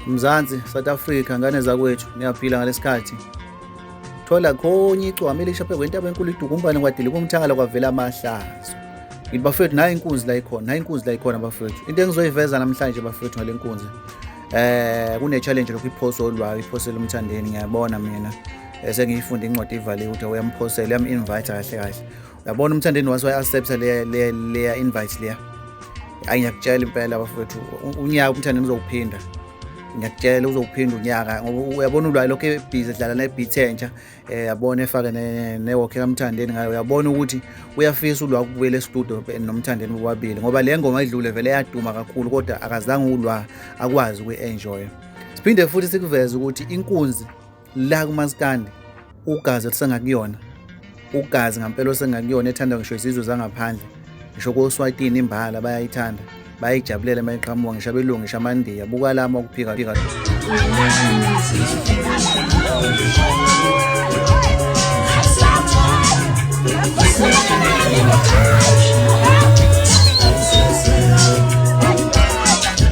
Mzansi, South Africa, ngane zakwethu, niyaphila ngalesikhathi. Thola khonye icwami elisha phezu kwentaba enkulu idukumbane kwadile kumthakala kwavela amahlazo. Ngithi bafethu nayi inkunzi la ikhona, nayi inkunzi la ikhona bafethu. Into engizoyiveza namhlanje bafethu ngale nkunzi. Eh kune challenge lokhu iphoso olwayo, iphosela umthandeni ngiyabona mina. Eh, Sengiyifunde incwadi ivaliwe ukuthi uyamuphosela, uyamu-invite kahle kahle. yabona umthandeni wase wayi-accepta leya invite leya ayi ngiyakutshela impela bafowethu unyaka umthandeni uzokuphinda ngiyakutshela uzokuphinda unyaka ngoba uyabona ulwayo lokho ebhizi edlala nebhithi entsha um eh, yabona efake newokhe kamthandeni ngayo uyabona ukuthi uyafisa ulwa ukubuyela estudio nomthandeni bobabili ngoba le ngoma idlule vele yaduma kakhulu kodwa akazange ulwa akwazi ukuyi-enjoya siphinde futhi sikuveze ukuthi inkunzi la kumaskandi ugazi olusengakuyona ugazi ngampela osengakuyona ethandwa ngisho izizwe zangaphandle ngisho koswatini imbala bayayithanda bayayijabulela uma iqhamuka ngisho abelungu ngisho amandiya buka lama ukuphika phika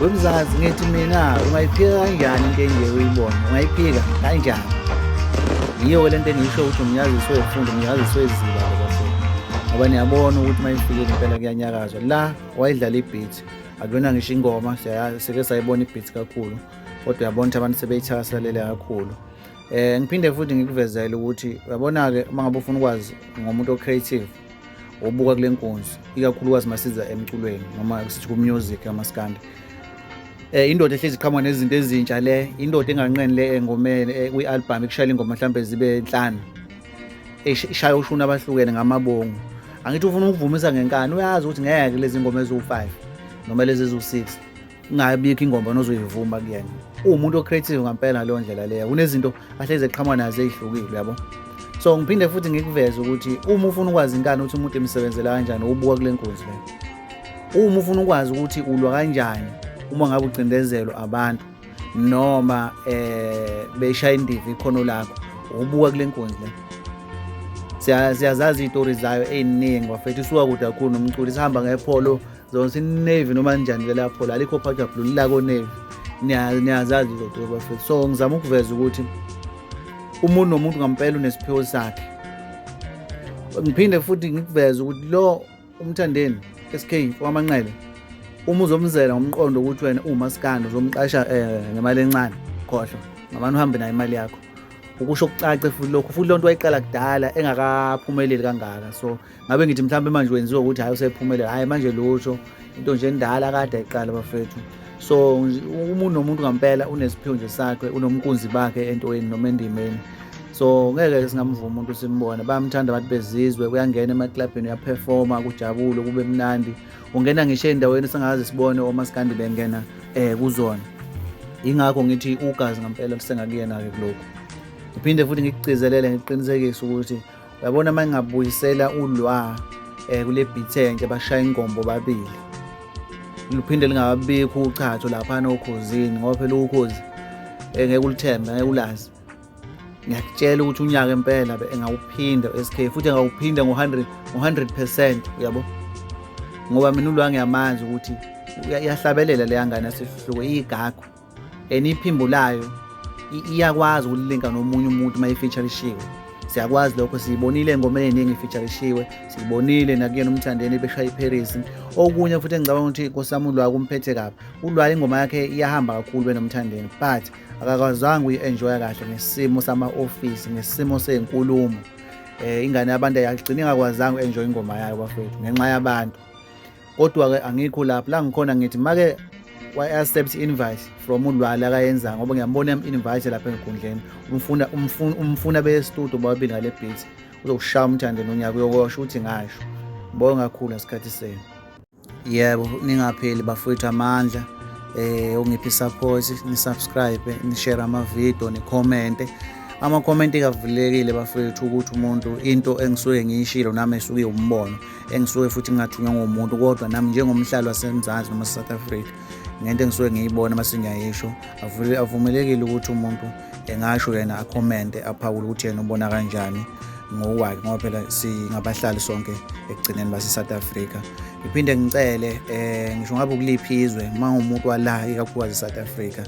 wemzansi ngithi mina ungayiphika kanjani into enje uyibona ungayiphika kanjani yiyo le nto engiyisho ukuthi umnyazisi wefundo umnyazisi weziba lobafundi ngoba niyabona ukuthi uma ifikile impela kuyanyakazwa la wayidlala ibhithi akuyona ngisho ingoma sike sayibona ibhithi kakhulu kodwa uyabona ukuthi abantu sebeyithakaselele kakhulu um ngiphinde futhi ngikuvezele ukuthi uyabona-ke uma ngabe ufuna ukwazi ngomuntu o-creative obuka kule nkonzo ikakhulukazi masiza emculweni noma sithi ku-music amaskandi eh indoda ehlezi iqhamuka nezinto ezintsha le indoda enganqeni le engomeni eh, kwi-albhamu ekushayela ingoma mhlawumbe zibe nhlanu ishaya ushuni abahlukene ngamabongo angithi ufuna ukuvumisa ngenkani uyazi ukuthi ngeke lezi ngoma eziwu-five noma lezi eziwu-six ingabikho ingoma nozoyivuma kuyena uwumuntu o-creative ngampela ngaleyo ndlela leyo kunezinto ahlezi eqhamuka nazo ezihlukile uyabo so ngiphinde futhi ngikuveze ukuthi uma ufuna ukwazi inkani ukuthi umuntu emsebenzela kanjani ubuka kule nkunzi le uma ufuna ukwazi ukuthi ulwa kanjani uma ngabe ucindezelwa abantu noma eh beshaya indiva ikhono lakho ubuka kule nkunzi le siyazazi iy'tori zayo ey'ningi wafethu isuka kude kakhulu nomculi sihamba ngepholo zonse inavy noma njani ke lapho la likho phakathi blue lilako navy niyazazi izoduka bafethu so ngizama ukuveza ukuthi umuntu nomuntu ngampela unesiphiwo sakhe ngiphinde futhi ngikuveze ukuthi lo umthandeni SK wamanqele uma uzomzela ngomqondo ukuthi wena uwumasikandi uzomqasha eh, ngemali encane khohlwa ngamane uhambe nayo imali yakho ukusho kucace futhi lokho futhi loo nto wayiqala kudala engakaphumeleli kangaka so ngabe ngithi mhlawumbe manje wenziwa ukuthi hhayi usephumelela hhayi manje lutho into nje endala kade ayiqala bafethu so umuntu nomuntu ngampela unesiphiwo nje sakhe unomkunzi bakhe entweni noma endimeni so ngeke singamvuma umuntu simbone bayamthanda abantu bezizwe kuyangena emaklabhini uyaphefoma kujabule kube mnandi ungena ngisho ey'ndaweni singazi sibone omasikandi bengena um kuzona yingakho ngithi ugazi ngampela lusengakuyena-ke kulokhu ngiphinde futhi ngikucizelele ngiqinisekise ukuthi uyabona uma ngingabuyisela ulwa um kule beat entsha bashaya ingombo babili luphinde lingababikho uchatho laphana okhozini ngoba phela ukhozi eh, ngeke ulithembe ngeke ulazi ngiyakutshela ukuthi unyaka impela engawuphinda SK futhi engawuphinda ngo-100 ngo-100 percent uyabo ngoba mina ulwa ngiyamanzi ukuthi uyahlabelela leya ngane asihluke iyigagu and iphimbulayo iyakwazi ukulilinka nomunye umuntu uma ifeaturishiwe siyakwazi lokho siyibonile engomeni eningi ifeaturishiwe siyibonile nakuyena umthandeni beshaya iparis okunye futhi engicabanga ukuthi nkosami ulwayo kumphethe kabi ulwayo ingoma yakhe iyahamba kakhulu benomthandeni but akakwazanga uyi-enjoya kahle ngesimo sama-ofisi ngesimo sey'nkulumo um ingane yabantu ayagcina ingakwazanga u-enjoya ingoma yayo bafethu ngenxa yabantu kodwa ke angikho lapho la ngikhona ngithi make wa-accept invite from ulwala akayenza ngoba ngiyambona yam-invite lapha enkundleni umfuna umfuna beyestudio bababili ngale beat uzokushaya umthande nonyaka uyokosho ukuthi ngasho ngibonge kakhulu ngesikhathi senu yebo ningapheli bafowethu amandla eh ungiphi support ni subscribe ni share ama video ni comment ama comment kavulekile bafethu ukuthi umuntu into engisuke ngiyishilo nami esuke umbono engisuke futhi ngingathunywa ngomuntu kodwa nami njengomhlali wasemzansi noma south africa ngento engisuke ngiyibona uma singiyayisho avumelekile ukuthi umuntu engasho yena akhomente aphawule ukuthi yena ubona kanjani ngokwakhe ngoba phela singabahlali sonke ekugcineni base-south africa ngiphinde ngicele um ngisho ngabe ukuliphi izwe uma ngumuntu wala ikakhulukazi e-south africa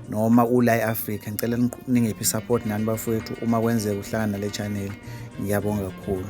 noma ula e-afrika ngicela ningiphi i-support nani bafowethu uma kwenzeka uhlangana nale chaneli ngiyabonga kakhulu